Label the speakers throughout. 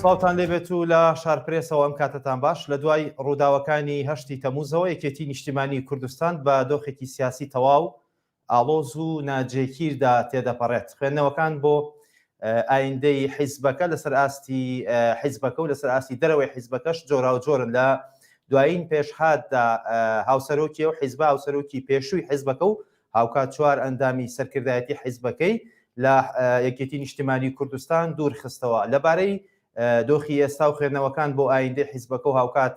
Speaker 1: سڵاوتان لێبێت و لە شارپرێسەوە ئەم کاتتان باش لە دوای ڕووداوەکانی هەشتی تەموزەوە یەکێتی نیشتیمانی کوردستان بە دۆخێکی سیاسی تەواو ئاڵۆز و ناجێکیردا تێدەپەڕێت. خوێندنەوەکان بۆ ئایندەی حیزبەکە لەسەر ئاستی حیزبەکە و لەسەر ئاستی دەرەوەی حیزبەکەش جۆراوجۆرن لە دوایین پێشهاتدا هاوسەرۆکی و حیزبە هاوسەرۆکی پێشووی حیزبەکە و هاوکات چوار ئەندامی سەرکردایەتی حیزبەکەی لە یەکێتی نیشتمانی کوردستان دوور خستەوە لەبارەی دۆخی ئێستا و خوێندنەوەکان بۆ ئایندەی حیزبەکە و هاوکات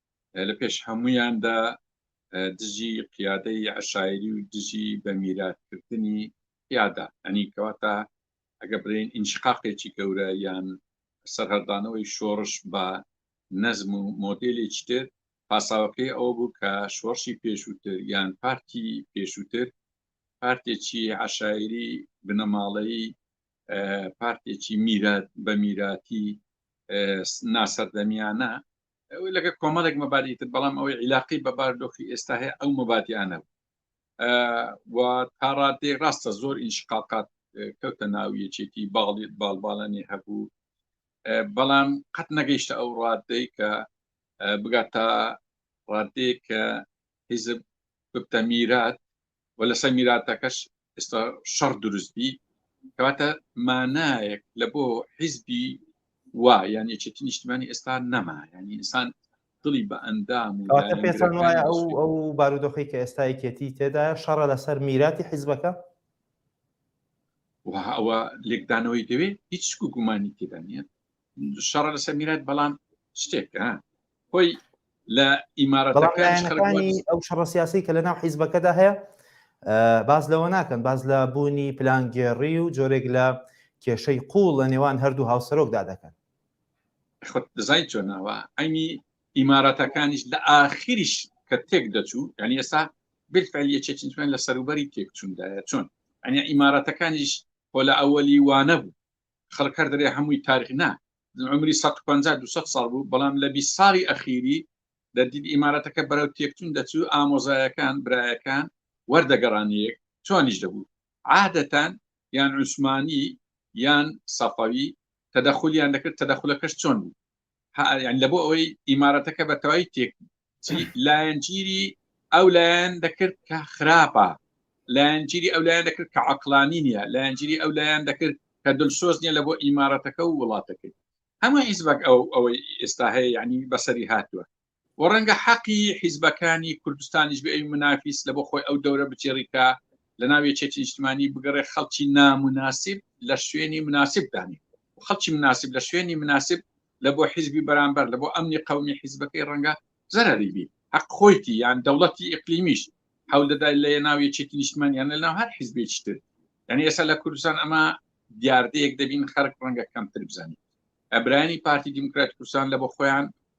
Speaker 2: لە پێش هەمویاندا دژی قیادەی عشاعری و دژی بە میراتکردنی یادا ئەنی کەواتە ئەگە برین ئینشقاقێکی گەورە یان سەرهەردانەوەی شۆڕش بە نەزم و مۆدلێکی تر پاساوەکەی ئەو بوو کە شۆڕشی پێشووتر یان پارتی پێشووتر پارتێکی عشاعری بنەماڵەی پارتێکی میرات بە میراتی ناسەردەمیانە لەگە کۆمەڵێک مەبادی تر بەڵام ئەوەی عیلاقی بە باردۆخی ئێستا هەیە ئەو مەبادیانە و تا ڕادێ ڕاستە زۆر ئینشقاقات کەوتە ناو یەکێتی باڵی باڵباڵانی هەبوو بەڵام قەت نەگەیشتە ئەو ڕادەی کە بگات تا ڕادێ کە حیزب ببتە میرات و لەسەر میراتەکەش ئێستا شەڕ دروست بی کەواتە مانایەک لە بۆ حیزبی وا یعنی چێتی نیشتمانی ئێستا نەما ینی ئینسان دڵی بە ئەندام و پێتان وایە ئەو
Speaker 1: ئەو بارودۆخی کە ئێستا یەکێتی تێدا شەڕە لەسەر میراتی حیزبەکە
Speaker 2: ئەوە لێکدانەوەی دەوێت هیچ گومانی تێدا نیە شەڕە لەسەر میرات بەڵام شتێک خۆی لە ئیمارەتەکانی ئەو شەڕە سیاسی
Speaker 1: کە لە ناو حیزبەکەدا هەیە باز لەوە ناکەن باز لە بوونی پلانگێڕی و جۆرێک لە کێشەی قوڵ لە نێوان هەردوو هاوسەرۆکدا دەکەن خۆت
Speaker 2: دەزای چۆناوە ئەینی ئیمارەتەکانیش لە ئاخیریش کە تێک دەچوو ینی ئێستا بالفعل یەکێکین لە سەروبەری تێکچوندایە چۆن ئەنی ئیمارەتەکانیش خۆ لە ئەوەلی وانە بوو خەڵک هەر دەرێ هەمووی تاریخ نا عمری 150 200 ساڵ بوو بەڵام لە 20 ساڵی ئەخیری لە دید ئیمارەتەکە بەرەو تێکچون دەچوو ئامۆزایەکان برایەکان وەردەگەڕانیەک چۆنیش دەبوو عادەتان یان عوسمانی یان سەفەوی تەدەخلیان دەکرد تەدەخلەکەش چۆن بوو لە بۆ ئەوەی ئیمارەتەکە بەتەوای تێک لایەنگیری ئەو لایەن دەکرد کە خراپە لایەنگیری ئەو لایەن دەکرد کە عقلانی نیە لایەنگیری ئەو لایەن دەکرد کە دلسۆز نیە لە بۆ ئیمارەتەکە و وڵاتەکەی هەموو هیچ بەک ئەو ئەوەی ئێستا هەیە ینی بەسەری هاتووە و ڕەنگە حەقی حیزبەکانی کوردستانیش بێ ئەوی منافیس لە بۆ خۆی ئەو دەورە بچێڕی کە لە ناو یەکێتی نیشتمانی بگەڕێ خەڵکی نامناسیب لە شوێنی مناسیب دانێ خەڵکی مناسیب لە شوێنی مناسیب لە بۆ حیزبی بەرامبەر لە بۆ ئەمنی قەومی حیزبەکەی ڕەنگە زەرەری بی حەق خۆیتی یان دەوڵەتی ئیقلیمیش حەول دەدای لە ناو یەکێتی نیشتمانیان لە ناو هەر حیزبێکی تر یعنی ئێستا لە کوردستان ئەمە دیاردەیەک دەبین خەرک ڕەنگە کەمتر بزانین ئەبرانی پارتی دیموکرات کوردستان لە بۆ خۆیان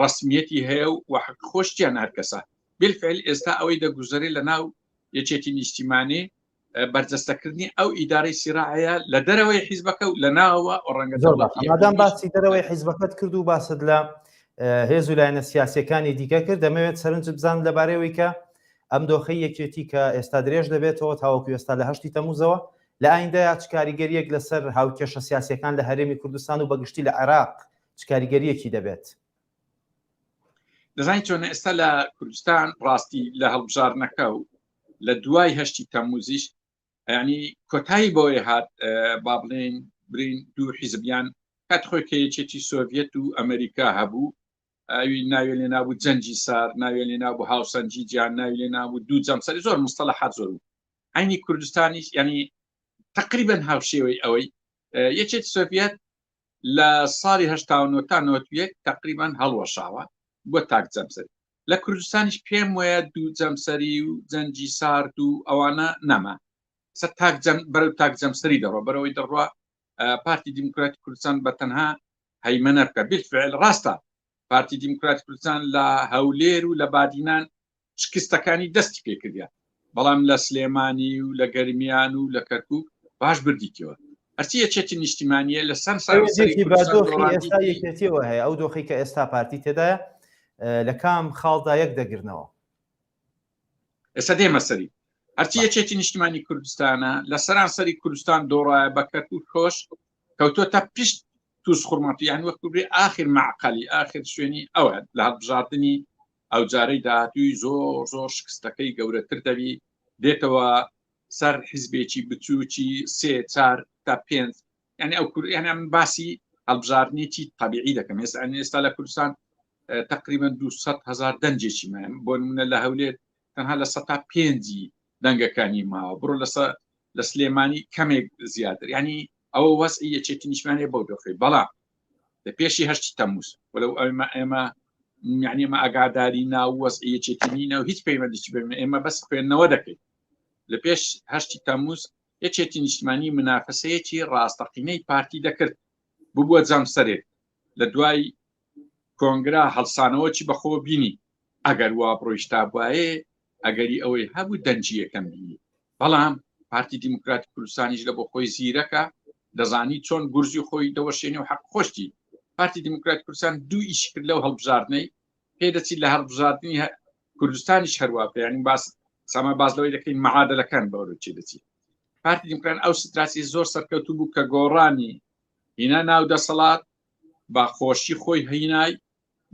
Speaker 2: ڕەسمیەتی هەیە و وەحق خۆشتیان هەرکەسە بالفعل ئێستا ئەوەی دەگوزەری لە ناو یەکێتی نیشتیمانی بەرجەستەکردنی ئەو ئیدارەی سیراعەیە لە دەرەوەی حیزبەکە و لە ناوە ڕەنگە زۆردان باسی
Speaker 1: دەرەوەی حیزبەکەت کرد و باست لە هێز و لایەنە سیاسەکانی دیکە کرد دەمەوێت سەرنج بزان لەبارەوەی کە ئەم دۆخی یەکێتی کە ئێستا درێژ دەبێتەوە تاوەکو ئێستا لە هەشتی تەموزەوە لە ئایندەیە چ کاریگەریەک لەسەر هاوکێشە سیاسەکان لە هەرێمی کوردستان و بەگشتی لە عێراق چ کاریگەریەکی دەبێت؟
Speaker 2: دەزانین چۆن ئێستا لە کوردستان ڕاستی لە هەڵبژارنەکە و لە دوای هەشتی تەموزیش ینی کۆتایی بۆی هات با بڵێن برین دوو حیزبیان کات خۆی کە یەکێتی سۆڤەت و ئەمریکا هەبوو ئەوی ناوێ لێ نابوو جەنجی سار ناوێ لێ نابوو هاوسەنجی جیان ناوی لێ نابوو دوو جەمسەری زۆر مستەڵە حات زۆر بوو عینی کوردستانیش ینی تقریبن هاوشێوەی ئەوەی یەکێت سۆڤەت لە ساڵی هەشتا و نۆ تا نۆت و یەک تەقریبەن هەڵوەشاوە بۆ تاک جەمسەری لە کوردستانیش پێم وەیە دوو جەمسەری و جەنجی سارد و ئەوانە نەما سە تاک جەم بەرەو تاک جەمسەری دەڕۆ بەرەوەی دەڕوا پارتی دیموکراتی کوردستان بە تەنها هەیمەنە بکە بالفعل ڕاستە پارتی دیموکراتی کوردستان لە هەولێر و لە بادینان شکستەکانی دەستی پێکردە بەڵام لە سلێمانی و لە گەرمیان و لە کەرکک باش بردیتەوە هەرچی یەکێتی نیشتیمانە لە سەر سەرەتیەوە
Speaker 1: هەیە ئەو دۆخی کە ئێستا پارتی تێدایە لە کام خاڵدا یەک دەگرنەوە
Speaker 2: ئێستا دێمە سەری هەرچی یەکێتی نیشتمانی کوردستانە لە سەرانسەری کوردستان دۆڕایە بە کەرکک خۆش کەوتۆ تا پشت تووس خورمات یان وەک بێ ئاخر معقالی ئاخر شوێنی ئەوە لە هەڵبژاردننی ئەو جارەی داهاتووی زۆر زۆر شکستەکەی گەورەتر دەبی دێتەوە سەر حزبێکی بچووکی سێ چار تا پێنج یعنی ئەو کوریانە من باسی هەڵبژاردنێکی تەبیعی دەکەم ئێستا ئەنی ئێستا لە کوردستان تقریبا 200 هزار دەنجێکی من بۆ منە لە هەولێت تەنها لە سەتا پێنجی دەنگەکانی ماوە بڕۆ لەسە لە سلێمانی کەمێک زیاتر ینی ئەوە وەز یەکێتی نیشمانێ بۆ دۆخی بەڵام لە پێشی هەشتی تەمووس وەلو ئەمە ئێمە یعنی ئمە ئاگاداری ناو وەز یەکێتی نینە و هیچ پەیوەندیی بێن ئێمە بەس خوێندنەوە دەکەین لە پێش هەشتی تەمووس یەکێتی نیشتمانی منافەسەیەکی ڕاستەقینەی پارتی دەکرد ببووە جەمسەرێک لە دوای کۆنگرا هەڵسانەوەچی بەخۆوە بینی ئەگەر وا بڕۆیشتا بواێ ئەگەری ئەوەی هەبوو دەنجی یەکەم بینی بەڵام پارتی دیموکراتی کوردستانیش لە بۆ خۆی زیرەکە دەزانی چۆن گورزی خۆی دەوەشێنی و حەق خۆشتی پارتی دیموکرات کوردستان دوو ئیش کرد لەو هەڵبژاردنەی پێ دەچیت لە هەڵبژاردننی کوردستانیش هەروە پێیانی باس ساما باز لەوەی دەکەین مەعادەلەکان بەوروچی دەچیت پارتی دیموکران ئەو ستراسی زۆر سەرکەوتوو بوو کە گۆڕانی هینا ناو دەسەڵات بە خۆشی خۆی هینای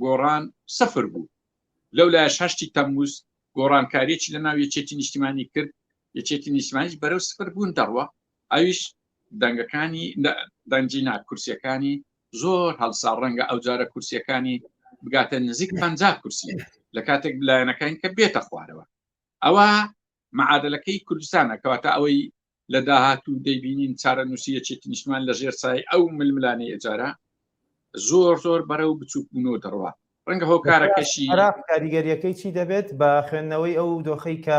Speaker 2: گۆڕان سفر بوو لەو لایش هەشتی تەموز گۆڕانکاریی لە ناو یەکێتی نیشتیمانی کرد یەکێتی نیشتمانیش بەرەو سفر بوون دەڕوە ئەویش دەنگەکانی دەنجی ناکورسیەکانی زۆر هەڵسا ڕەنگە ئەو جارە کورسیەکانی بگاتە نزیک پ کورسی لە کاتێک بلایەنەکان کە بێتە خوارەوە ئەوە معادەلەکەی کوردستانە کەواتە ئەوەی لە داهاتوو دەیبینین چارەنووسی یەکێتی نیشتمان لە ژێر سای ئەو ململانەی ئەجارە زۆر زۆر بەرە و بچووکبوونەوە دەڕوات ڕەنگە هۆکارەکەشی کاریگەریەکەی
Speaker 1: چی دەبێت بە خوێندنەوەی ئەو دۆخەی کە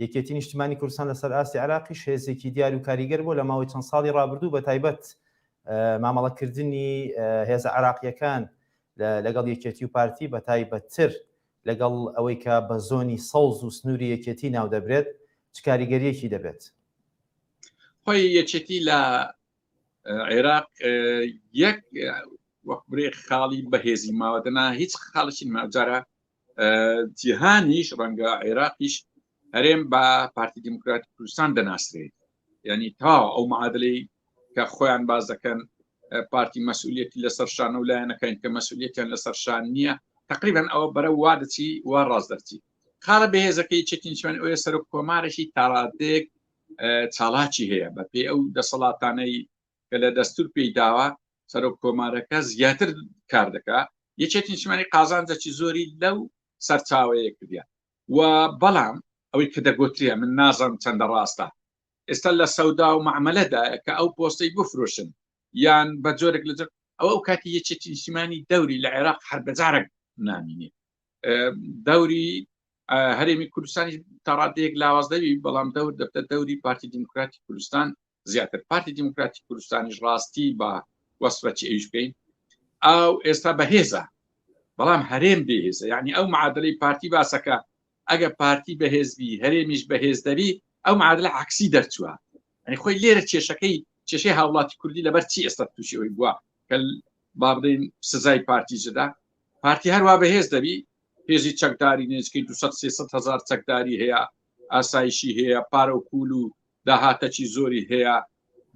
Speaker 1: یەکێتی نیشتمانی کوردستان لەسەر ئاستی عراقی شێزێکی دیار و کاریگەر بۆ لە ماوەی چەند ساڵی ڕابردوو بە تایبەت مامەڵەکردنی هێزە عراقیەکان لەگەڵ یەکێتی و پارتی بە تایبەتتر لەگەڵ ئەوەی کە بە زۆنی سەوز و سنووری یەکێتی ناودەبرێت، چ کاریگەرییەکی دەبێت؟
Speaker 2: خۆی یەکێتی لە عێراق یەک وەک برێ خاڵی بەهێزی ماوە دەنا هیچ خاڵشین ماجارە جیهانیش ڕەنگە عێراقیش هەرێم بە پارتی دیموکراتی کوردستان دەناسرێت ینی تا ئەو معادلی کە خۆیان باز دەکەن پارتی مەسئولەتی لەسەر شانە و لایەنەکەین کە مەسئولەتیان لەسەر شان نییە تقریبان ئەوە بەرە وا دەچی وا ڕاست دەرچی خاڵە بەهێزەکەی چەکینچوان ئەوە سەرۆک کۆمارێکی تاڕادێک چاڵاکی هەیە بە پێی ئەو دەسەڵاتانەی کە لە دەستور پێی داوە سەرۆک کۆمارەکە زیاتر کار دەکا یەکێتی شمانی قازانجەکی زۆری لەو سەرچاوەیە کردیان و بەڵام ئەوەی کە دەگوتریە من نازانم چەندە ڕاستە ئێستا لە سەودا و معمەلەدایە کە ئەو پۆستەی بفرۆشن یان بە جۆرێک لە جۆر ئەوە ئەو کاتی یەکێتی نیشتیمانی دەوری لە عێراق هەر بەجارێک نامینێ دەوری هەرێمی کوردستانی تاڕادەیەک لاوازدەوی بەڵام دەور دەبتە دەوری پارتی دیموکراتی کوردستان زیاتر پارتی دیموکراتی کوردستانیش ڕاستی بە وەسفەچ ئەوش بکەین ئەو ئێستا بەهێزە بەڵام هەرێم بێهێزە یعنی ئەو معادلەی پارتی باسەکە ئەگە پارتی بەهێزبی هەرێمیش بەهێز دەبی ئەو معادلە عکسی دەرچووە ئەنی خۆی لێرە کێشەکەی کێشەی هاوڵاتی کوردی لەبەر چی ئێستا تووشی ئەوی بووە کە با بڵین سزای پارتی جدا پارتی هەروە بەهێز دەبی هێزی چەکداری نێچکەی 200 هزار چەکداری هەیە ئاسایشی هەیە پارە و پول و داهاتەکی زۆری هەیە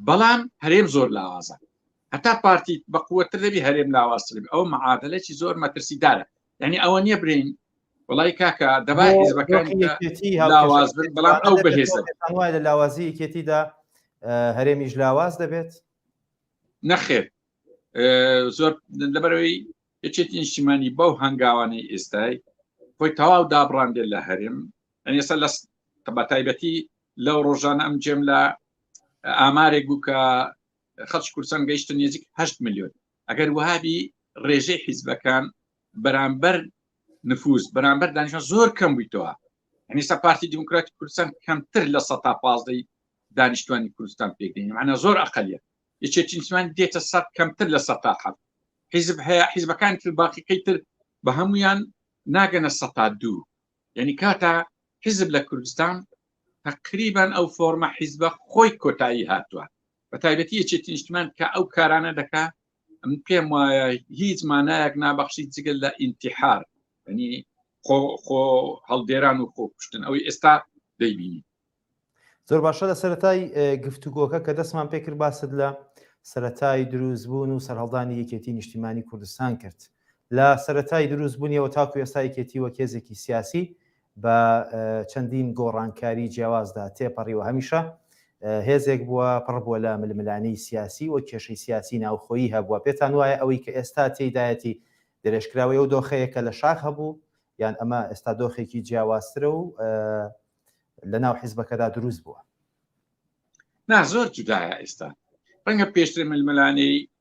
Speaker 2: بەڵام هەرێم زۆر لاوازە هەتا پارتی بەقوتر دەبی هەرێم لاواستربی ئەو معادلێکی زۆر مەترسیدارە یعنی ئەوە نییە برین وڵی کاکە دەبا حزبەکانیەتی لاواز بن بەڵام ئەو بەهێزە وای لە لاوازی
Speaker 1: یەکێتیدا هەرێمیش لاواز
Speaker 2: دەبێت
Speaker 1: نەخێر زۆر
Speaker 2: لەبەرەوەی یەکێتی نیشتیمانی بەو هەنگاوانەی ئێستای خۆی تەواو دابڕاندێت لە هەرێم ئەسە لە بە تایبەتی لەو ڕۆژانە ئەم جێم لە ئامارێک بوو کە خەچ کورسان گەیشتە نێزیک 8 میلیۆن ئەگەر وهابی ڕێژەی حیزبەکان بەرامبەر نفوس بەرامبەر دانیشە زۆر کەم بوویتەوە هەنیستا پارتی دیموکراتی کوردستان کەمتر لە سە تا پازدەی دانیشتوانی کوردستان پێگەین معنە زۆر ئەقلیت یەکێتی نیسمان دێتە سەر کەمتر لە سە تا حەب حیزب هەیە حیزبەکان تر باقیەکەی تر بە هەمویان ناگەنە سە تا دوو یعنی کاتا حیزب لە کوردستان تقریبان ئەو فۆرمە حیزبە خۆی کۆتایی هاتووە بە تایبەتی یەکێتی نیشتمان کە ئەو کارانە دەکا ئەم پێم وایە هیچ مانایەک نابەخشی جگەل لە ئینتحار ینی خۆ خۆ هەڵدێران و خۆ کوشتن ئەوەی ئێستا دەیبینی زۆر
Speaker 1: باشە لە سەتای گفتوگۆکە کە دەستمان پێکرد باست لە سەتای دروست بوون و سەرهەڵدانی یەکێتی نیشتیمانی کوردستان کرد لە سەتای دروست بوونیەوە تاکو ئێستا یەکێتی وە کێزێکی سیاسی بە چەندین گۆڕانکاری جیاوازدا تێپەڕیوە، هەمیشە هێزێک بووە پڕ بووە لە ململانێی سیاسی و کێشەی سیاسی ناوخۆیی هەبووە، پێتان وایە ئەوەی کە ئێستا تێیدایەتی درێژکراوەی ئەو دۆخەیە کە لە شاخ هەبوو، یان ئەمە ئێستا دۆخێکی جیاوازترە و لەناو حیزبەکەدا دروست بووە؟
Speaker 2: نا زۆر جودایە ئێستا، ڕەنگە پێشتر ململانێی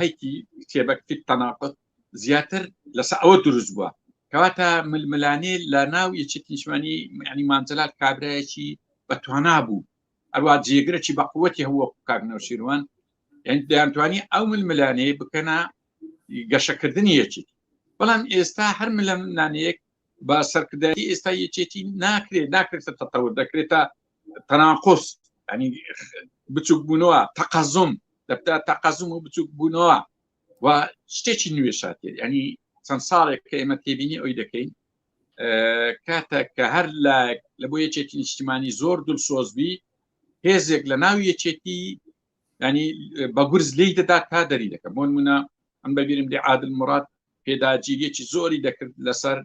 Speaker 2: هەیتی کتێبەک فی تەناقض زیاتر لەسە ئەوە دروست بووە کەواتە ململانێ لە ناو یەچێت نیشمانی ینی مانجلات کابراایەکی بە توانا بوو ئەروە جێگرەی بە قوەتی هەوە کاکنەوە شیروان یعنی دەیانتوانی ئەو ململانێ بکەنا گەشەکردنی یەکێتی بەڵام ئێستا هەر ملم نانەیەک بە سەرکرداری ئێستا یەکێتی ناکرێت ناکرێتە تەتەور دەکرێتە تەناقۆس ئەنی بچووک بوونەوە تەقەزم دەبتا تەقەزم و بچووک بوونەوە و شتێکی نوێ شاتێ ینی چەند ساڵێک کە ئێمە تێبینی ئەوی دەکەین کاتە کە هەر لە لە بۆ یەکێتی نیشتمانی زۆر دل سۆزبی هێزێک لە ناو یەکێتی ینی بە گورز لی دەدا تا دەری دەکەم بۆ منە ئەم بەبیرم دی عادل مرات پێداگیریەکی زۆری دەکرد لەسەر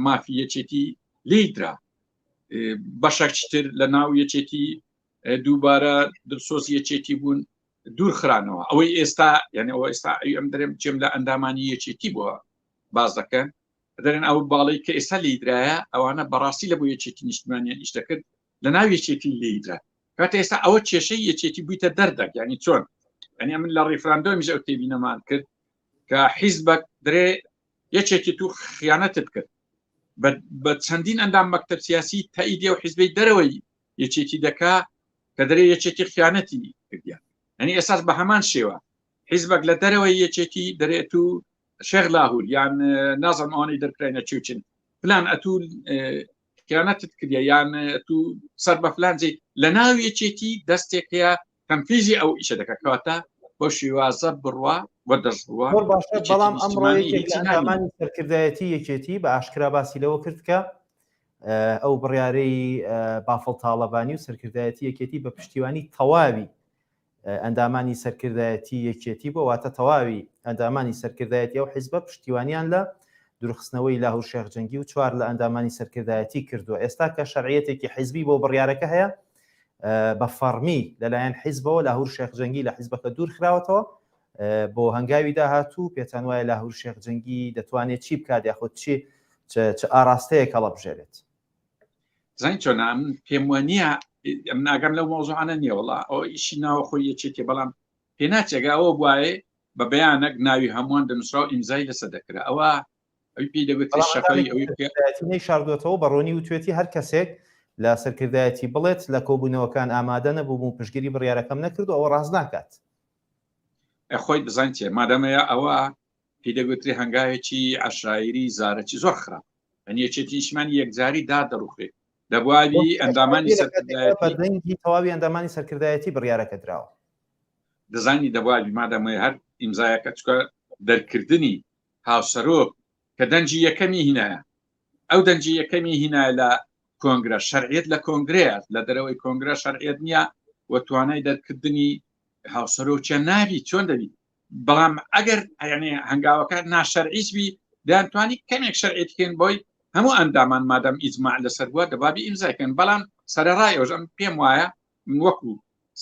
Speaker 2: مافی یەکێتی لیدرا بەشەکتر لە ناو یەکێتی دووبارە دڵسۆز یەکێتی بوون دوور خرانەوە ئەوەی ئێستا یعنی ئەوە ئێستا ئەوی ئەم درێم چێم لە ئەندامانی یەکێتی بووە باز دەکەن دەرێن ئەو باڵی کە ئێستا لیدرایە ئەوانە بەڕاستی لە بۆ یەکێتی نیشتمانیان ئیش دەکرد لە ناو یەکێتی لیدرا کاتە ئێستا ئەوە کێشەی یەکێتی بوویتە دەردەک ینی چۆن ئەنی من لە ڕیفراندۆمیش ئەو تێبینەمان کرد کە حیزبەک درێ یەکێکی تو خیانەتت کرد بە چەندین ئەندام مەکتب سیاسی تەئیدە و حیزبی دەرەوەی یەکێتی دەکا کە دەرێ یەکێتی خیانەتی کردیان ئەنی ئێساس بە هەمان شێوە حیزبەک لە دەرەوەی یەکێتی دەرێت و شێغ لاهور یان نازم ئەوانەی دەرکراینە چوچن پلان ئەتو خیانەتت کردە یان تو سەر بە فلانجی لە ناو یەکێتی دەستێک هەیە تەمفیزی ئەو ئیشە دەکات کەواتە بۆ شیوازە بڕوا بۆ دەستڕوە زۆر باشە یەکێتی بەڵام
Speaker 1: ئەمڕۆ نیشتیمانی یەکێک لە هیچی ناوی ئەندامانی نییە. سەرکردایەتی یەکێتی بە ئاشکرا باسی لەوە کرد کە اه، ئەو بڕیارەی اه، بافڵ تاڵەبانی و سەرکردایەتی یەکێتی بە پشتیوانی تەواوی اه، ئەندامانی سەرکردایەتی یەکێتی بۆ واتە تەواوی ئەندامانی سەرکردایەتی ئەو حیزبە پشتیوانیان لە دورخستنەوەی لاهور شێخ جەنگی و چوار لە ئەندامانی سەرکردایەتی کردووە ئێستا کە شەرعیەتێکی حیزبی بۆ بڕیارەکە هەیە بە فەڕمی لەلایەن حیزبەوە لاهور شێخ جەنگی لە حیزبەکە دوور خراوەتەوە بۆ هەنگاوی داهاتوو پێتان وایە لاهور شێخ جەنگی دەتوانێت چی بکات یاخود چی چ ئاراستەیە کەڵە بژێرێت
Speaker 2: زین چۆنام پێم وە نییە ئەم ناگەم لەو مۆزوعانە نییە وڵا ئەو ئیشی ناوە خۆی یەکێکێ بەڵام پێناچێگا ئەوە بواێ بە بەیانەک ناوی هەمووان دەنووسرا و ئیمزای لەسە دەکرا ئەوە ئەوی پێی دەبێت شەقی ئەوی شاردوێتەوە بەڕۆنی
Speaker 1: وتوێتی هەر کەسێک لە سەرکردایەتی بڵێت لە کۆبوونەوەکان ئامادە نەبووم و پشگیری بڕیارەکەم نەکرد و ئەوە ڕاست ناکات
Speaker 2: خۆی بزان چێ مادەمەیە ئەوە پێی دەگوتری هەنگاوێکی عشاعری زارەکی زۆر خراپ ئەنیەچێتی نیشمان یەکجاری دا دەڕوخێت دەبووی ئەندامانی سەردەنگی
Speaker 1: تەواوی ئەندامانی سەرکردایەتی بڕیارەکە دراوە دەزانی
Speaker 2: دەبووی مادەمەیە هەر ئیمزایەکە چکە دەرکردنی هاوسەرۆک کە دەنگی یەکەمی هینایە ئەو دەنگی یەکەمی هینای لە کۆنگرە شەرعیت لە کۆنگرەیە لە دەرەوەی کۆنگرە شەرعیت نییە و توانای دەرکردنی هاوسەرۆکیان ناوی چۆن دەبی بەڵام ئەگەر ئەیانێ هەنگاوەکان ناشەرعیز بی دەیانتوانی کەمێک شەرعیت بکەین بۆی هەموو ئەندامان مادەم ئیزماع لەسەر بووە دەبابی ئیمزایکەن بەڵام سەرڕای ئەوژەم پێم وایە من وەکو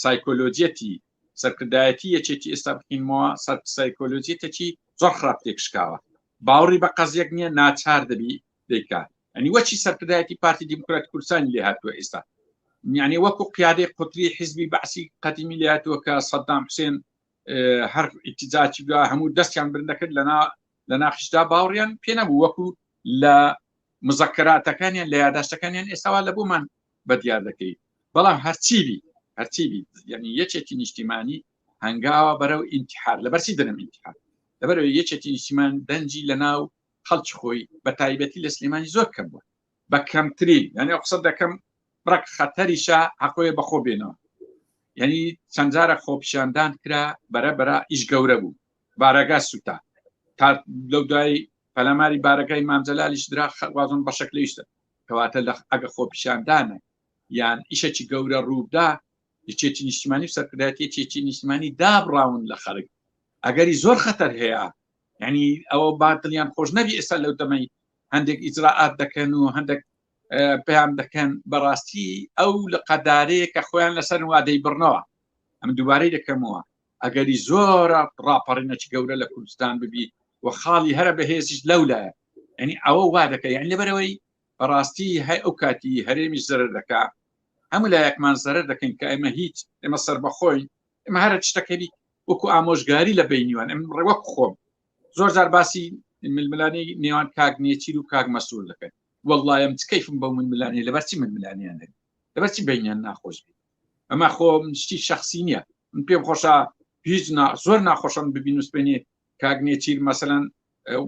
Speaker 2: سایکۆلۆجیەتی سەرکردایەتی یەکێتی ئێستا بخینمەوە سەر سایکۆلۆجیتەکی زۆر خراپ تێکشکاوە باوەڕی بە قەزیەک نییە ناچار دەبی دەیکات ئەنی وەچی سەرکردایەتی پارتی دیموکرات کوردستانی لێ هاتووە ئێستا یعنی وەکو قیادەی قوتری حزبی بەعسی قەدیمی لێ هاتووە کە سەددام حوسێن هەر ئیتیزاچی بە هەموو دەستیان برندەکرد لەنا لە ناخشدا باوڕیان پێ نەبوو وەکو لە مزەکەراتەکانیان لە یاداشتەکانیان ئێستاوا لە بۆمان بە دیار دەکەی بەڵام هەرچی بی هەرچی بی یعنی یەکێکی نیشتیمانی هەنگاوە بەرەو ئینتحار لە بەرسی دەنم ئینتحار لەبەر یەکێکی نیشتیمان دەنجی لە ناو خەڵکی خۆی بە تایبەتی لە سلێمانی زۆر کەم بووە بە کەمترین یعنی قسە دەکەم ڕک خەتەریشە حەقۆیە بەخۆ بێنەوە یعنی چەندجارە خۆپیشاندان کرا بەرە بەرە ئیش گەورە بوو بارەگا سوتا تا لەو دوای پەلاماری بارەکەی مامجللالیش درا خەوازم بەشەک لەیشتە کەواتە لە ئەگە خۆپیشاندانە یان ئیشەکی گەورە ڕووبدا یەکێتی نیشتمانی و سەرکردایەتی یەکێتی نیشتمانی دابڕاون لە خەرک ئەگەری زۆر خەتەر هەیە ینی ئەوە باتلیان خۆش نەبی ئێستا لەو دەمەی هەندێک ئیجرراعات دەکەن و هەندێک پێیان دەکەن بەڕاستی ئەو لە قەدارەیە کە خۆیان لەسەر وادەی بڕنەوە ئەم دووبارەی دەکەمەوە ئەگەری زۆرە ڕاپەڕینەکی گەورە لە کوردستان ببی و خاڵی هەرە بەهێزیش لەو لایە ئەنی ئەوە وا دەکەی یان لەبەرەوەی بەڕاستی هەی ئەو کاتی هەرێمی زەرر دەکا هەموو لایەکمان زەرر دەکەین کە ئێمە هیچ ئێمە سەر بەخۆین ئمە هەرە شتەکەری وەکو ئامۆژگاری لە بینیوان ئەم ڕێوەک خۆم زۆر زار باسی ململانی نێوان کاک نێچیر و کاک مەسوول دەکەن وەڵایم تکەیفم بە من ملانی لەبەرچی من ملانیان دەن لەبەرچی بینیان ناخۆش بێت ئەمە خۆ شتی شخصی نییە من پێم خۆشە هیچ زۆر ناخۆشم ببین وسپێنێ کاگنێتیر مەسەەن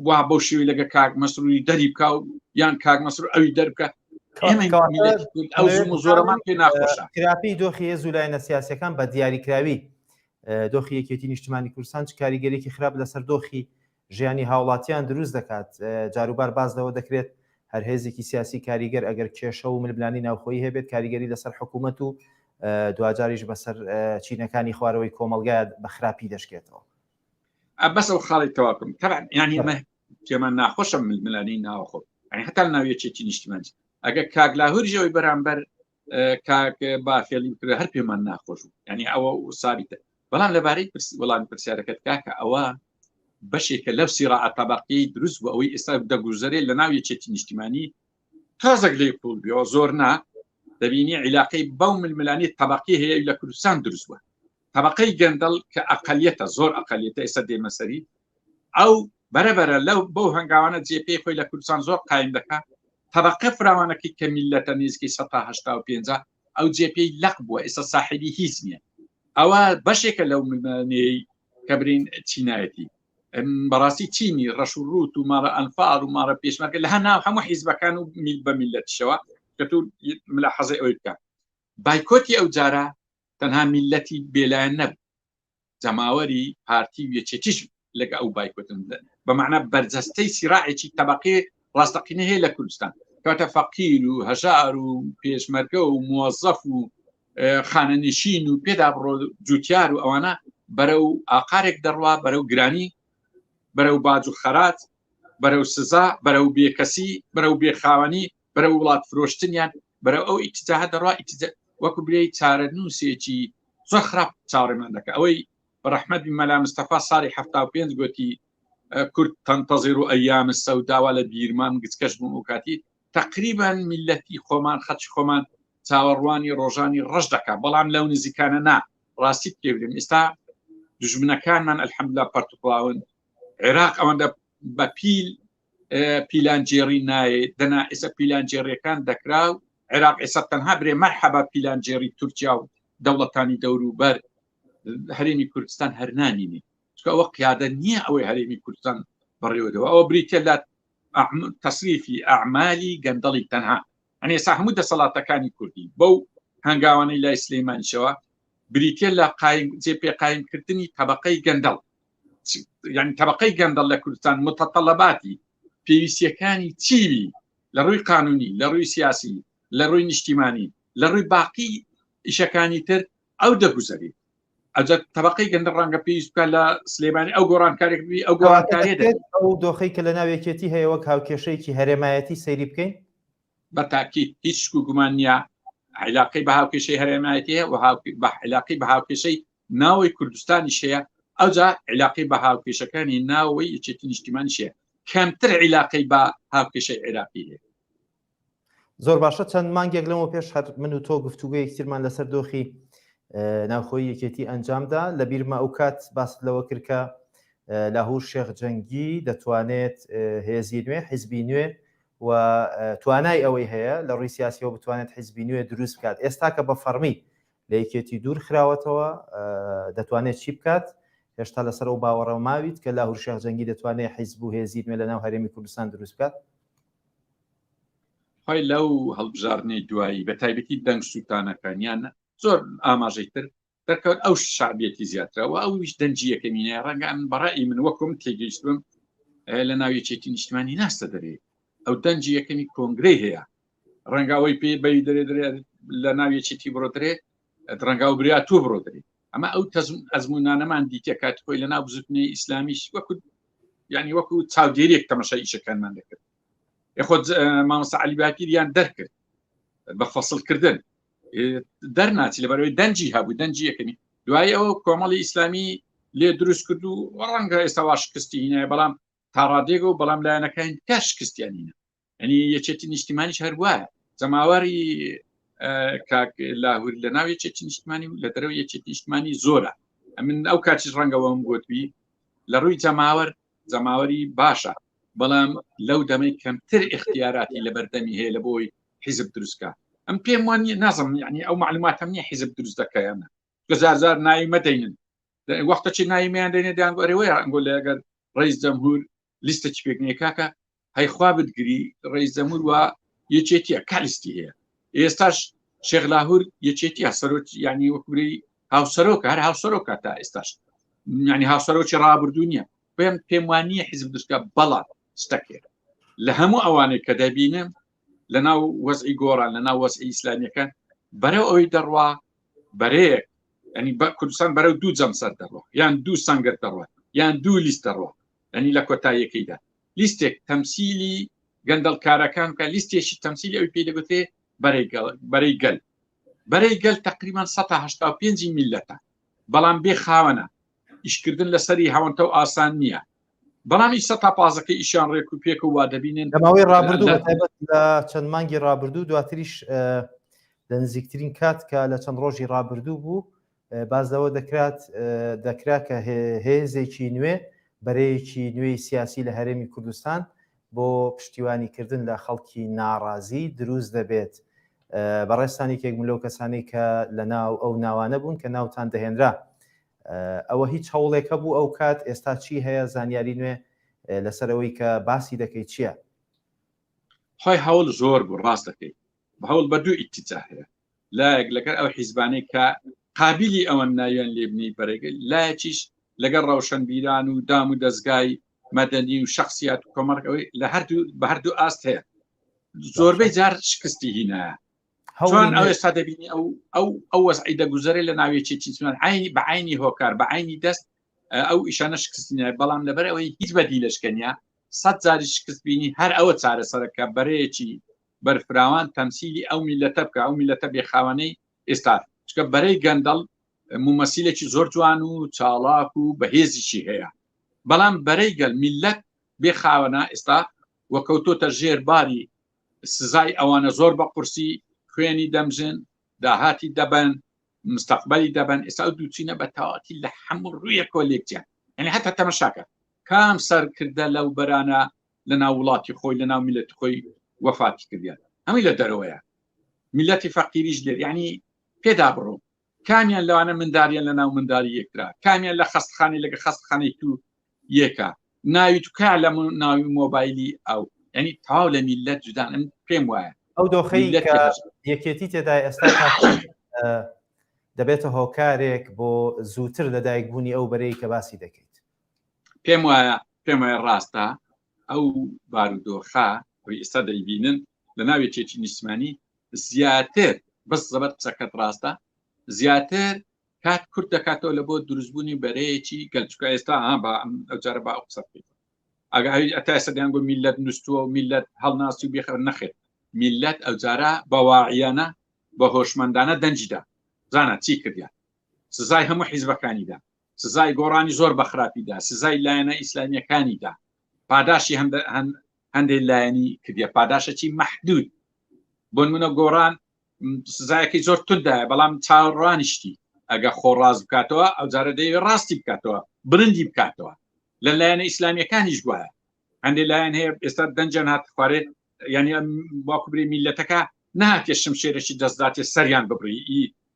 Speaker 2: وا بەو شێوی لەگە کاک مەسروری دەری بکە و یان کاک مەسر ئەوی دەربکە زۆرەمان پێ ناخۆشە کراپی دۆخی هێز و
Speaker 1: لایەنە سیاسەکان بە دیاریکراوی دۆخی یەکێتی نیشتمانی کوردستان چ کاریگەرێکی خراپ لەسەر دۆخی ژیانی هاوڵاتیان دروست دەکات، جاروبار باس لەوە دەکرێت هەر هێزێکی سیاسی کاریگەر ئەگەر کێشە و ململانی ناوخۆیی هەبێت کاریگەری لەسەر حکوومەت و دواجاریش بەسەر چینەکانی خوارەوەی کۆمەلگا بە خراپی دەشکێتەوە. بەس
Speaker 2: ئەو خاڵی تەواکم تەبعەن یانی مە پێمان ناخۆشە ململانی ناوخۆ ئەنی هەتا ناویەکێتی نیشتیمانج ئەگە کاک لاهوریەوەی بەرامبەر کاک باخێڵی کرد هەر پێمان ناخۆش و ینی ئەوە و سابیتە بەڵام لەبارەی وڵام پرسیارەکەت کاکە ئەوە بەشێکە لەو سیرا ئەتەبقی دروست بۆ ئەوەی ئێستا دەگوزەرێ لە ناو یەکێتی نیشتیمانی تازەک لی قوڵ بێەوە زۆر نا دەبینی عیلاقی بەو ململانی تەبقی هەیە لە کوردستان دروست بووە تەبەقەی گەندەڵ کە ئەقلیەتە زۆر ئەقلیەتە ئێستا دێمەسەری ئەو بەرەبەرە لەو بەو هەنگاوانە جێپی خۆی لە کوردستان زۆر قایم دەکات تەبقە فراوانەکەی کە میلەتە نزیکەی 1950 ئەو جێپی لەق بووە ئێستا ساحبی هیچ نییە ئەوە بەشێکە لەو منانەی کە برین چینایەتی بەڕاستی چینی ڕەش و ڕوت و ماڕە ئەنفار و ماڕە پێشمەکە لە هەنا هەموو حیزبەکان و میل بە میلەتشەوە کە تو ملا حەزی ئەوی بکە بایکۆتی ئەو جارە تەنها میلەتی بێلایەن نەبوو جەماوەری پارتی و یەکێتیش لەگە ئەو بایکوتن بە معنە بەرجەستەی سیراعێکی تەبقی ڕاستەقینە هەیە لە کوردستان کاتە فەقیر و هەژار و پێشمەرگە و موەزەف و خانەنشین و پێدا بڕۆ جوتیار و ئەوانە بەرە و ئاقارێک دەڕوا بەرە و گرانی بەرە و باج و خەرات بەرە و سزا بەرە و بێکەسی بەرە و بێخاوەنی بەرە وڵات فرۆشتنیان بەرە ئەو ئیتجاهە دەڕوا وەکو بێ چارە نووسێکی زۆر خراپ چاڕێمان دەکە ئەوەی بەڕحمەت مەلا مستەفا ساری ه پێنج گوتی کورد تەنتەزیر و ئەیام سەوداوا لە بیرمان گچکەش بووم و کاتی تقریبان میلەتی خۆمان خەچ خۆمان چاوەڕوانی ڕۆژانی ڕەش دەکە بەڵام لەو نزیکانە نا ڕاستی پێبرم ئێستا دژمنەکانمان ئەلحەملا پەرتوکڵاون عێراق ئەوەندە بەپیل پیلانگێڕی نایێ دەنا ئێستا پیلانگێڕیەکان دەکرا و عێراق ئێستا تەنها برێ مەرحەبا پیلانگێڕی تورکیا و دەوڵەتانی دەوروبەر هەرێمی کوردستان هەرنامینی ئەوە قیادە نییە ئەوەی هەرێمی کوردستان بەڕێوەدەوە ئەوە بریتە لە تەسریفی ئەعمالی گەندەڵی تەنها ئەنێ سا هەموو دەسەڵاتەکانی کوردی بەو هەنگاوانەی لای سلەیمانشەوە بریتە لە قایم جێ پێ قایمکردنی طبقەی گەندەڵ یعنی تەبقەی گەندەڵ لە کوردستان متەتەڵەباتی پێویستیەکانی چیوی لە ڕووی قانونی لە ڕووی سیاسی لە ڕووی نیشتیمانی لە ڕووی باقی ئیشەکانی تر ئەو دەگوزەری ئەجە تەبقەی گەندە ڕەنگە پێویست بکە لە سلێمانی ئەو گۆڕانکارێک بی ئەو گۆڕانکاری ئەو دۆخی کە
Speaker 1: لە ناوێکێتی هەیە وەک هاوکێشەیەکی هەرێمایەتی سەیری بکەین بە تاکی
Speaker 2: هیچ گومان نییە عیلاقی بە هاوکێشەی هەرێمایەتی و بە عیلاقی بە هاوکێشەی ناوەی کوردستانیش هەیە ئەوجا عیلاقی بە هاوکێشەکانی ناوەی یەکێتی نیشتیمانیشەیە کەمتر عیلاقی بە هاوکێشەی عێراقی هەیە
Speaker 1: زۆر باشە چەند مانگێک لەمە پێش هەر من و تۆ گفتوگە یەکتیرمان لەسەر دۆخی ناوخۆی یەکێتی ئەنجامدا لە بیرمە ئەو کات باست لەوە کردکە لاهور شێخ جەنگی دەتوانێت هێزی نوێ حیزبی نوێ و توانای ئەوەی هەیە لە ڕووی سیاسیەوە بتوانێت حیزبی نوێ دروست بکات ئێستا کە بە فەرمی لە یەکێتی دوور خراوەتەوە دەتوانێت چی بکات هێشتا لەسەر و باوەڕەوە ماویت کە لا هورشێخ جەنگی دەتوانێت حیزب و هێزی نوێ لە ناو هەرێمی کوردستان دروست بکات
Speaker 2: خی لەو هەڵبژارنەی دوایی بە تایبەتی دەنگ سووتانەکانیان زۆر ئاماژەی تر دەکەوت ئەو شعبیەتی زیاترەوە ئەویش دەنجی یەکەمینە ڕەنگان بەڕی من وەکم تێگەیشتم لە ناویەکێتی نیشتمانی ناستە دەرێ ئەو دەنجی یەکەمی کۆنگرەی هەیە ڕەنگا ئەوەی پێ بەوی دەرێ درێ لە ناوی چیتی بڕۆدرێ ڕەنگا و بریا تو بڕۆدرێ ئەمە ئەو تەزم ئەزمونانەمان دیتە کات خۆی لە ناو بزوتنی ئیسلامیش وەکو ینی وەکو چاودێریێک تەمەشا ئیشەکانمان دەکرد خۆت مامۆستا علی باکیریان دەرکرد بە فەصلکردن دەرناچی لەبەرەوەی دەنجی هەبوو دەنجی یەکەمی دوای ئەو کۆمەڵی ئیسلامی لێ دروست کرد و ڕەنگە ئێستا واشکستی هینای بەڵام تاڕادێگە و بەڵام لایەنەکان کە شکستیانینە ئەنی یەکێتی نیشتیمانیش هەر وایە جەماواری کاک لاهور لە ناو یەکێتی نیشتمانی و لە دەرەوە یەکێتی نیشتمانی زۆرە ئەمن ئەو کاتیش ڕەنگەوەم گوتبی لە ڕووی جەماوەر جەماوەری باشە بەڵام لەو دەمەی کەمتر اختیاراتی لە بەردەمی هەیە لە بۆی حیزب دروستکە ئەم پێم وانی نازم یعنی ئەو معلوماتم نیە حیزب دروست دەکەیانە گەزارزار ناوی مەدەینن وەختەچی ناویمیان دەێنێ دەیان ئەرێوەیە ئەنگۆ لەگەر ڕیز جەمهور لیستە چ پێک نیە کاکە هەیخوا بتگری ڕێی زەمور وە یەکێتیە کالیستی هەیە ئێستاش شێخ لاهور یەکێتیە سەرۆک ینی وەکوری هاوسەرۆک هەر هاوسەرۆکە تا ئێستاش ینی هاوسەرۆکی ڕابردوو نیە پێم پێم وانە حیزب دشکە بەڵام ستەکێت لە هەموو ئەوانەی کە دەبینم لە ناو وەزعی گۆڕان لە ناو وەزعی ئیسلامیەکان بەرەو ئەوی دەڕوا بەرەیەک ئەنی بە کوردستان بەرەو دوو جەمسەر دەڕوە یان دوو سنگەر دەڕوە یان دوو لیست دەڕوە یانی لە کۆتاییەکەیدا لیستێک تەمسیلی گەندەڵکارەکان کە لیستێکی تەمسیلی ئەوی پێی دەگوترێ بەرەی گەل بەرەی گەل تقریبان 1970 میلەتە بەڵام بێ خاوەنە ئیشکردن لەسەری هەوەنتە و ئاسان نییە بەڵامی سە تا پازەکە ئیشان ڕێک و پێک و وا دەبینن دەماوەی ڕابردوو
Speaker 1: لە چەند مانگی ڕابردوو دواتریش لە نزیکترین کات کە لە چەند ڕۆژی ڕابردوو بوو باس لەوە دەکرات دەکرا کە هێزێکی نوێ بەرەیەکی نوێی سیاسی لە هەرێمی کوردستان بۆ پشتیوانی کردن لە خەڵکی ناڕازی دروست دەبێت بەڕێستانی کێک ملۆ کەسانی کە لە ناو ئەو ناوانە بوون کە ناوتان دەهێنرا ئەوە هیچ هەوڵێکە بوو ئەو کات ئێستا چی هەیە زانیاری نوێ لەسەرەوەی کە باسی دەکەیت چییە؟
Speaker 2: خی هەوڵ زۆر بوو ڕاست دەکەیت هەوڵ بە دوو ئیتیجا هەیە لایەک لەگەر ئەو حیزبانەی کە قابلی ئەوەن ناویان لێبنی بەرەگەل لایەکیش لەگەر ڕەوشەنبیران و دام و دەستگای مەدەنی و شخصیات و کۆمەڵک ئەوەی لە هەردوو بە هەردوو ئاست هەیە زۆربەی جار شکستی هینە چۆن ئەو ئێستا دەبینی ئەو ئەو ئەو وەزعی دەگوزەرێ لە ناوێکی چیچمان عینی بە عینی هۆکار بە عینی دەست ئەو ئیشانە شکستنیە بەڵام لەبەر ئەوەی هیچ بەدی لەشکەنیا سەد جاری شکست بینی هەر ئەوە چارەسەرەکە بەرەیەکی بەرفراوان تەمسیلی ئەو میلەتە بکە ئەو میلەتە بێخاوانەی ئێستا چکە بەرەی گەندەڵ مومەسیلێکی زۆر جوان و چاڵاک و بەهێزیی هەیە بەڵام بەرەی گەل میلەت بێ خاوەنا ئێستا وەکەوتۆتە ژێر باری سزای ئەوانە زۆر بە قورسی خوێنی دەمژن داهاتی دەبن مستەقبلی دەبن ئێستا و دووچینە بە تاواتی لە هەموو ڕوویەکۆ لێکجیان ئەنی هەتا تەمەشاکە کام سەرکردە لەو بەرانە لە ناو وڵاتی خۆی لە ناو میلەت خۆی وەفاتی کردیان ئەمەی لە دەرەوەیە میلەتی فەقیریش لێر ینی پێدا بڕۆ کامیان لەوانە منداریان لە ناو منداری یەکرا کامیان لە خستخانی لەگە خستخانی تو یەکە ناوی توکا لە ناوی مۆبایلی ئەو ینی تاو لە میلەت جودان ئەم پێم وایە ئەو دۆخی
Speaker 1: یەکێتی تێدا ئێستا دەبێتە هۆکارێک بۆ زووتر لەدایکبوونی ئەو بەرەی کە باسی دەکەیت پێم وایە
Speaker 2: پێم وایە ڕاستە ئەو بارودۆخە ئەوی ئێستا دەیبینن لە ناوی چێکی نیسمانی زیاتر بەس زەبەر قسەکەت ڕاستە زیاتر کات کورت دەکاتەوە لە بۆ دروستبوونی بەرەیەکی گەلچکە ئێستا ئا بە ئەم ئەوجارە بە ئەو قسە بکەیت ئەگەری ئەتا سەدیان گو میلەت نووسوە و میلەت هەڵناسی و بێخەر نەخێت میلەت ئەوجارە بەواعیانە بە هۆشمەندانە دەنجدا زانە چی کردیان سزای هەموو حیزبەکانیدا سزای گۆڕانی زۆر بە خراپیدا سزای لایەنە ئیسلامیەکانیدا پاداشی هەندێک لایەنی کردە پاداشەی مەحدود بۆن منە گۆڕان سزایەکی زۆر تودایە بەڵام چاڕانیشتی ئەگە خۆ ڕاز بکاتەوە ئەو جارە دەیە ڕاستی بکاتەوە برندی بکاتەوە لە لایەنە ئیسلامیەکانیش گوایە هەندێک لایەن هەیە ئێستا دەنجیان هات خوارێ ینی باکوبری میلەتەکە ناتێ شمشێرەی دەستداتێ سەریان ببڕی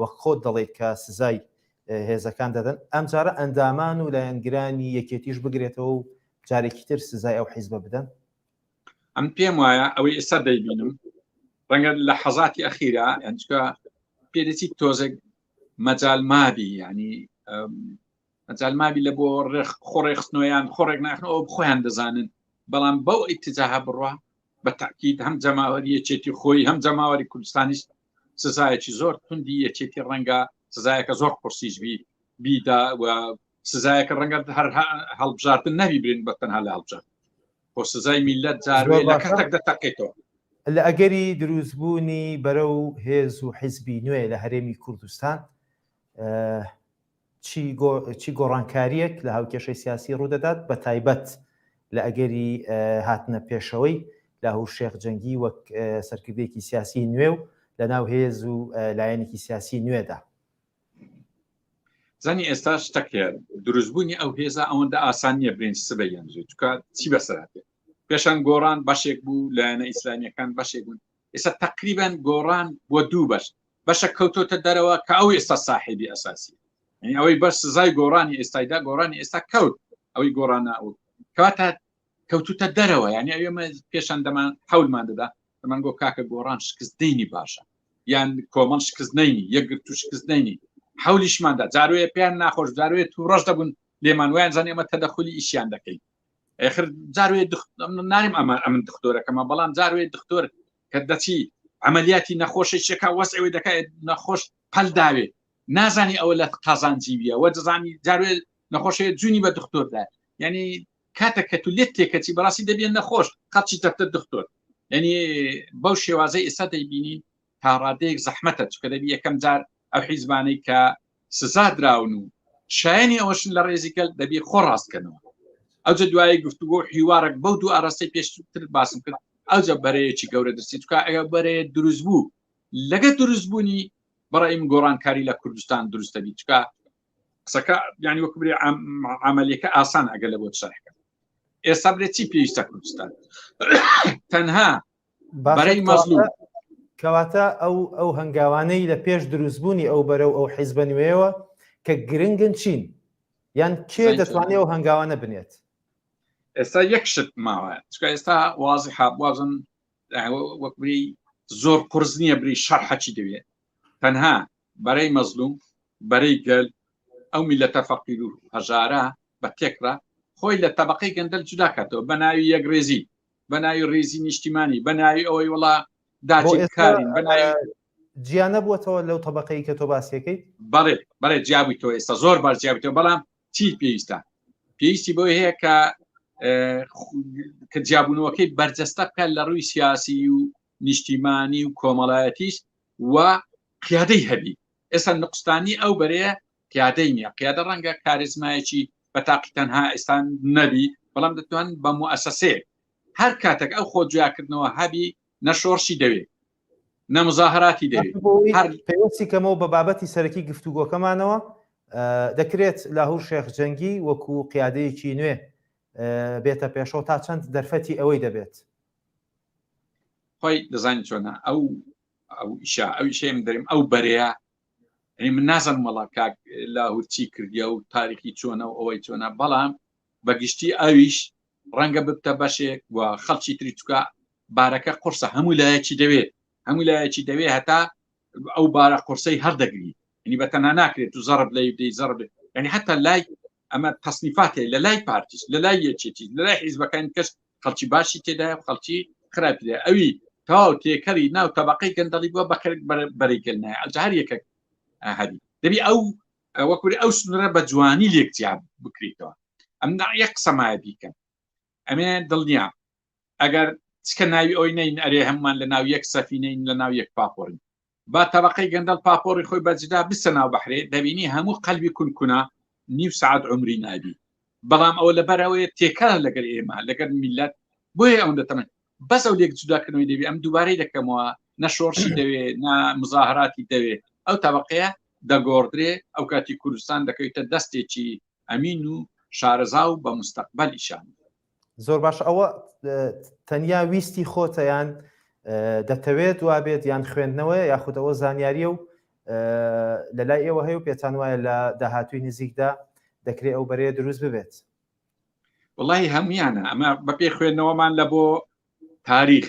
Speaker 1: وەک خۆت دەڵێیت کە سزای هێزەکان دەدەن، ئەمجارە ئەندامان و لایەنگرانی یەکێتیش بگرێتەوە و جارێکی تر سزای ئەو حیزبە بدەن؟ ئەم
Speaker 2: پێم وایە ئەوەی ئێستا دەیبینم ڕەنگە لە حەزاتی ئەخیرا ئەنجکە پێدەچی تۆزێک مەجال مابی ینی مەجال مابی لە بۆ ڕێخ خۆڕێخستنەوەیان خۆڕێک ناخن ئەو خۆیان دەزانن بەڵام بەو ئیتجاها بڕە بە تاکیید هەم جەماوەری یەکێتی خۆی هەم جەماوەری کوردستانیش سزایەکی زۆر توندی یەکێتی ڕەنگە سزایەکە زۆر قرسیش بی بیدا و سزایەکە ڕەنگە هەر هەڵبژاردن نەوی برین بە تەنها لە هەڵبژار بۆ سزای میلەت جارێ لە کەتەک دەتەقێتەوە لە ئەگەری
Speaker 1: دروستبوونی بەرە و هێز و حیزبی نوێ لە هەرێمی کوردستان چی گۆڕانکارییەک لە هاوکێشەی سیاسی ڕوودەدات، بەتایبەت لە ئەگەری هاتنە پێشەوەی لاهور شێخ جەنگی وەک سەرکردەیەکی سیاسی نوێ و لەناو هێز و لایەنێکی سیاسی نوێدا؟
Speaker 2: زانی ئێستا شتەکە دروستبوونی ئەو هێزە ئەوەندە ئاسان نییە برنج سبە یەنجێ چکە چی بەسەراتێ پێشان گۆڕان بەشێک بوو لایەنە ئیسلامیەکان بەشێک بوون ئێستا تقریبان گۆڕان بۆ دوو بەش بەشە کەوتۆتە دەرەوە کە ئەو ئێستا ساحبی ئەساسی یعنی ئەوەی بەس سزای گۆڕانی ئێستایدا گۆڕانی ئێستا کەوت ئەوەی گۆڕانە ئەو کەواتە کەوتوتە دەرەوە یعنی ئەوێمە پێشان دەمان حولمان دەدا دەمان گۆ کاکە گۆڕان شکست دینی باشە یان کۆمەڵ شکست نینی یەکگر تو شکست نینی حولیشماندا جاروێ پێیان ناخۆش جاروێت و ڕەش دەبوون لێمان ویان زانانی ئەمە تەدەخلی ئیشیان دەکەین ئێخر جاروێ ناریم ئەمە ئەمن دکتۆرەکەمە بەڵام جاروێ دکتۆر کە دەچی عملیاتی نەخۆشی شێکا وەس ئەوێ دەکات نەخۆش پەل داوێ نازانی ئەوە لە قازان جیویە وە دەزانی جاروێ نەخۆشێ جوونی بە دکتۆردا ینی کاتە کە تو لێت تێکەچی بەڕاستی دەبێن نەخۆش قەچی دەفتە دکتۆر ینی بەو شێوازە ئێستا دەیبینین تا ڕادەیەک زەحمەتە چکە دەبی یەکەم جار ئەو حیزبانەی کە سزا دراون و شایانی ئەوەشن لە ڕێزیکەل دەبی خۆ ڕاستکەنەوە ئەوجە دوایی گفتوگۆ حیوارێک بەو دوو ئاراستەی پێشتر باسم کرد ئەوجە بەرەیەکی گەورە دەستی چکە ئەگە بەرێ دروست بوو لەگە دروست بوونی بەڕیم گۆڕانکاری لە کوردستان دروستە بی چکە قسەکە ینی وەک برێ عملیەکە ئاسان ئەگە لە بۆ شەرحکە ئێستا برێ چی پێویستە کوردستان تەنها بەرەی مەزلوم کەواتە
Speaker 1: ئەو ئەو هەنگاوانەی لە پێش دروستبوونی ئەو بەرە و ئەو حیزبە نوێەوە کە گرنگن چین یان کێ دەتوانێت ئەو هەنگاوانە بنێت ئێستا
Speaker 2: یەک شت ماوە چکە ئێستا وازی حابوازن وەکبری زۆر قرس نییە بری شەر حەچی دەوێت تەنها بەرەی مەزلوم بەرەی گەل ئەو میلەتە فەقیر و هەژارە بە تێکرا خۆی لە تەبقەی گەندەل جوداکاتەوە بە ناوی یەک رێزی بە ناوی ڕێزی نیشتیمانی بە ناوی ئەوەی وڵا داچکارین بە ناوی
Speaker 1: جیانە بووەوە لەو طبقەی کە تۆ باسیەکەیت بەڵێ بەڵێ
Speaker 2: جیابووی تۆ ئێستا زۆر باش جیابتەوە بەڵام چی پێویستە پێویستی بۆی هەیە کە کە جیابوونەوەکەی بەرجەستە بکات لە ڕووی سیاسی و نیشتیمانی و کۆمەڵایەتیش و قیادەی هەبی ئێستا نقستانی ئەو بەرەیە قیادەی نیە قیادە ڕەنگە کارزمایەکی بە تاقی تەنها ئێستان نەبی بەڵام دەتوان بە موسەسێ هەر کاتێک ئەو خۆ جیاکردنەوە هەبی نەشۆڕشی دەوێت نەمزاهراتی دەوێت پێوەستی
Speaker 1: کەمەوە بە بابەتی سەرەکی گفتوگۆکەمانەوە دەکرێت لاهور شێخ جەنگی وەکو قیادەیەکی نوێ بێتە پێشەوە تا چەند دەرفەتی ئەوەی دەبێت
Speaker 2: خۆی دەزانانی چۆنە ئەو ئەو ئیشە ئەو شێم دەریم ئەو بەرەیە ئەنی من نازم وڵا کاک لە هورچی کردیا و تاریخی چۆنە و ئەوەی چۆنە بەڵام بە گشتی ئەویش ڕەنگە ببتە بەشێک و خەڵکی تری چکە بارەکە قرسە هەموو لایەکی دەوێت هەموو لایەکی دەوێت هەتا ئەو بارە قرسەی هەردەگری ینی بە تەنها ناکرێت تو زەرب لە دەی زەرب ینی حتا لای ئەمە تەسنیفاتێ لە لای پارتیش لە لای یەکێتی لە لای حیزبەکان کەس خەڵکی باشی تێدا خەڵکی خراپی لە ئەوی تاو تێکەری ناو تەبقەی گەندەڵی بووە بەکەر بەریگەل نایە ئەجا هەر یەکە هەری دەبی ئەو وەکوری ئەو سنرە بە جوانی لێکجیاب بکریتەوە ئەم ناڕە قسەمایە بیکەم ئەمێ دڵنیام ئەگەر چکە ناوی ئەوی نین ئەرێ هەممان لە ناو یەک سەفینین لە ناو یەک پاپۆڕین با تەبقەی گەندەڵ پاپۆڕی خۆی بەجدا بسە ناو بەحرێ دەبینی هەموو قەلبی کونکونا نیو سعات عمری نابی بەڵام ئەوە لەبەرەوەی تێکەڵ لەگەر ئێمە لەگەر میلەت بۆیە ئەوەندە تەمە بەس ئەو لێک جوداکردنەوەی دەبێ ئەم دووبارەی دەکەمەوە نە شۆڕشی دەوێ نە مزاهراتی دەوێ ئەو تەبقەیە دەگۆڕدرێ ئەو کاتی کوردستان دەکەویتە دەستێکی ئەمین و شارەزا و بە مستەقبل ئیشان زۆر باش
Speaker 1: ئەوە تەنیا ویستی خۆتەیان دەتەوێت وابێت یان خوێندنەوەی یاخودەوە زانیاریە و لە لای ئێوە هەیە و پێتان وایە لە داهاتوی نزیکدا دەکرێت ئەو بەرەیە دروست ببێت
Speaker 2: وڵی هەمویانە ئەمە بەپێ خوێندنەوەمان لە بۆ تاریخ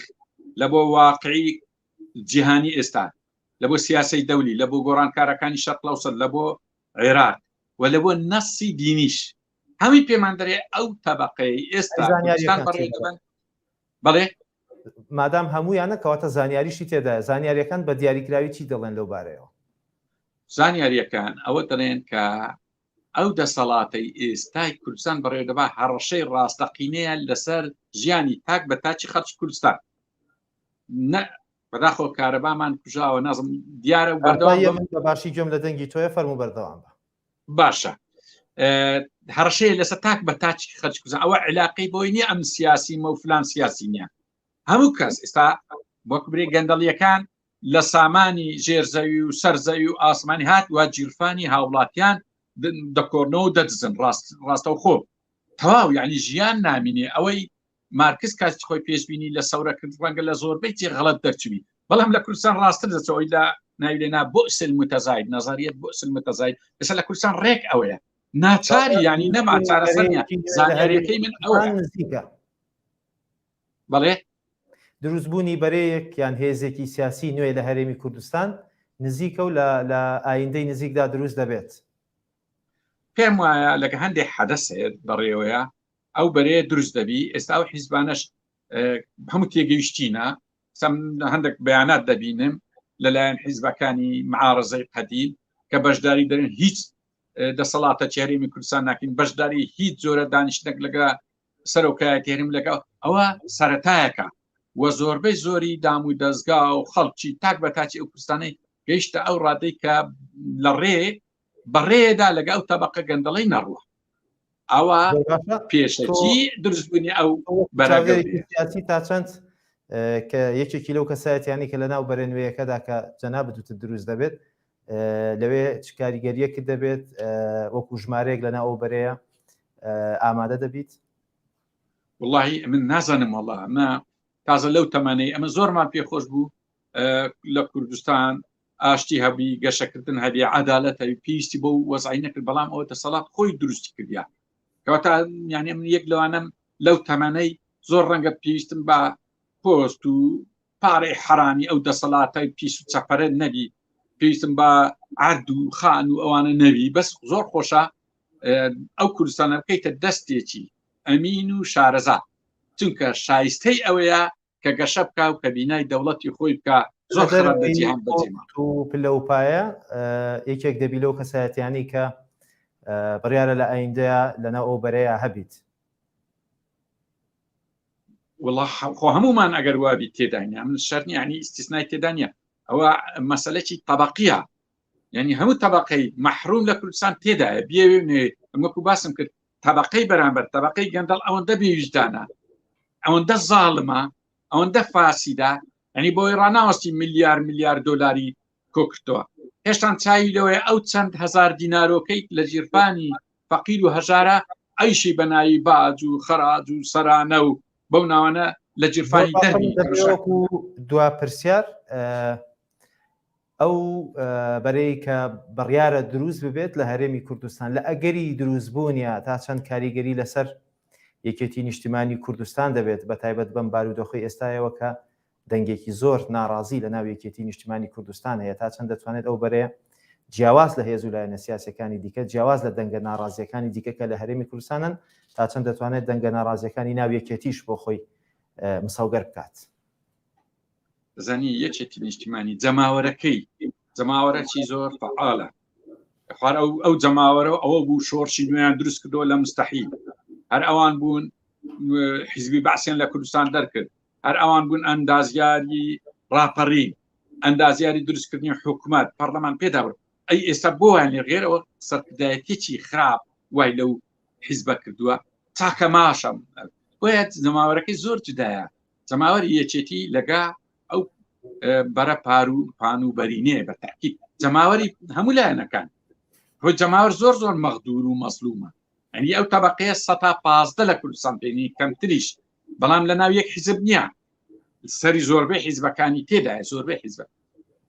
Speaker 2: لە بۆ واقعی جیهانی ئێستا لە بۆ سیاسی دەولی لە بۆ گۆڕانکارەکانی شەقلەوسەر لە بۆ عێراق و لە بۆ نەسی دینیش هەمی پێمان دەێ ئەو تەبقەی ئێستا بەڵێ مادام
Speaker 1: هەمویانە کەواتە زانیاریشی تێدا زانیاریەکان بە دیاریکراوی چی دەڵێن لەو بارەیەوە
Speaker 2: زانیاریەکان ئەوە دەڵێن کە ئەو دەسەڵاتی ئێستای کوردستان بەڕێدەبا هەڕەشەی ڕاستەقینەیە لەسەر ژیانی تاک بە تاچی خەرچ کوردستان بەداخۆ کارەبامان کوژاوە نازم دیارە بەردەوام باشی
Speaker 1: گوێم لە دەنگی تۆە فەرمو بەردەوام بە باشە
Speaker 2: هەڕشەیە لەسە تاک بە تاچ خەرج کوزە ئەوە علاقی بۆی نیە ئەم سیاسی مە و فلان سیاسی نیە هەموو کەس ئێستا وەک برێ گەندەڵیەکان لە سامانی ژێرزەوی و سەرزەوی و ئاسمانی هات وا جیرفانی هاوڵاتیان دەکۆرنەوە دەدزن ڕاست ڕاستە خۆ تەواو یعنی ژیان نامینێ ئەوەی مارکس کاتی خۆی پێشببینی لە سەورەکرد ڕەنگە لە زۆربەی تێ غڵت دەرچوی بەڵام لە کوردستان ڕاستتر دەچەوەی لە ناویلێنا بۆ سل متەزاید نظریت بۆ سل متەزاید لەسەر لە کوردستان ڕێک ئەوەیە ناچاری ینی نەما چارەسەریان زانیارەکەی من ئەوە نزیکە بەڵێ دروستبوونی
Speaker 1: بەرەیەک یان هێزێکی سیاسی نوێ لە هەرێمی کوردستان نزیکە و لە ئایندەی نزیکدا دروست دەبێت
Speaker 2: پێم وایە لەگە هەندێک حەدەس هەیە بەڕێوەیە ئەو بەرەیە دروست دەبی ئێستا و حیزبانەش هەموو تێگەیشتینە سم هەندێک بەیانات دەبینم لەلایەن حیزبەکانی معارزەی قەدیم کە بەشداری دەرن هیچ دەسەڵاتە چێریمی کوردستان ناکەین بەشداری هیچ جۆرە دانیشتنێک لەگە سەرۆکایە تێرم لەگە ئەوە سەتایەکە وە زۆربەی زۆری دام و دەستگا و خەڵکی تاک بە تاچی ئەو کوردستانی گەیشتە ئەو ڕادەی کە لە ڕێ بەڕێدا لەگە ئەو تەبقە گەندەڵی نەڕوە ئەوە پێشەکی دروستبوونی ئەو بەراگەسی
Speaker 1: تا چەند کە یەکێکی لەو کەسایەتیانی کە لە ناو بەرێنوەیەکەدا کە جەنا بدوتە دروست دەبێت لەوێ چ کاریگەریەکت دەبێت وەکو ژمارەیەک لە ناو بەرەیە ئامادە دەبیت
Speaker 2: واللهی من نازانم وڵە ئەمە تازە لەو تەمانەی ئەمە زۆرمان پێخۆش بوو لە کوردستان ئاشتی هەبی گەشەکردن هەبی عدالەت هەبی پێویستی بۆ وەزعی نەکرد بەڵام ئەوە دەسەڵات خۆی دروست کردیا کەواتە یانە من یەک لەوانم لەو تەمەەی زۆر ڕەنگە پێویستم بە پۆست و پارەی حرامی ئەو دەسەڵاتای پیس و چەپەرە نەبی پێویستم بە عرد و خان و ئەوانە نەوی بەس زۆر خۆشە ئەو کوردستانە بکەیتە دەستێکی ئەمین و شارەزا چونکە شایستەی ئەوەیە کە گەشە بکە و کە بینای دەوڵەتی خۆی بکە زۆر خراپ لە جیهان بەجێما و پلە و پایە
Speaker 1: یەکێک دەبی لەو کەسایەتیانی کە بڕیارە لە ئایندەیە لەنا ئەو بەرەیە هەبیت
Speaker 2: وڵا خۆ هەمومان ئەگەر وابی تێدانیا من شەرنیانی ئیسیسنای تێدانە ئەوە مەسلەکی طبقیە یعنی هەموو تەبقەی مەحروم لە کوردستان تێدایە بێوێ ئەمەکو باسم کرد تەبقەی بەرامبەر تەبقەی گەندەڵ ئەوەندە بێویژدانە ئەوەندە زاڵمە ئەوەندە فاسیدا ئەنی بۆی ڕناوەستی ملیار ملیار دلاری کۆکردەوە هێشتان چاوی لەوەیە ئەو چەند هزار دینارۆکەی لە ژیرفانی فەقیر و هەژارە ئەیشی بەنایی باج و خەراج و سەرانە و بەو ناوانە لە جیرفانی دەرمی دوا پرسیار
Speaker 1: ئەو بەرەی کە بڕیارە دروست ببێت لە هەرێمی کوردستان لە ئەگەری دروست بوونیا تا چەند کاریگەری لەسەر یەکێتی نیشتیمانی کوردستان دەبێت بە تایبەت بەم بارودۆخی ئێستایەوە کە دەنگێکی زۆر ناڕازی لە ناو یەکێتی نیشتیمانی کوردستان هەیە تا چەند دەتوانێت ئەو بەرەیە جیاواز لە هێز و لایەنە سیاسەکانی دیکە جیاواز لە دەنگە ناڕازیەکانی دیکەکە لە هەرێمی کوردستانن تا چەند دەتوانێت دەنگە ناڕازیەکانی ناویەکێتیش بۆ خۆی مساوگەر بکات.
Speaker 2: زانی یەکێتی نیشتیمانی جەماوەرەکەی جەماوەرەکی زۆر فعاالە خوار ئەو ئەو جەماوەرە و ئەوە بوو شۆرشی نوێیان دروست کردەوە لە مستحیل هەر ئەوان بوون حیزبی باسیێن لە کوردستان دەرکرد هەر ئەوان بوون ئەندازیاری راپەڕین ئەندازیاری دروستکردنی حکوومەت پەرلەمان پێدا بن ئەی ئێستا بۆیان لە غێرەوە سەرکردایەتێکی خراپ وای لەو حیزبە کردووە تاکە ماشەم بۆیە جەماوەرەکەی زۆر جدایە جەماوەری یەکێتی لەگا ئەو بەرە پار و پان و بەرینێ بە تاکی جەماوەری هەموو لایەنەکان هۆ جەماوەر زۆر زۆر مەغدور و مەسلومە ئەنی ئەو تەبقەیە سە پازدە لە کوردستان پێنی کەمتریش بەڵام لە ناو یەک حیزب نییە سەری زۆربەی حیزبەکانی تێدایە زۆربەی حیزبە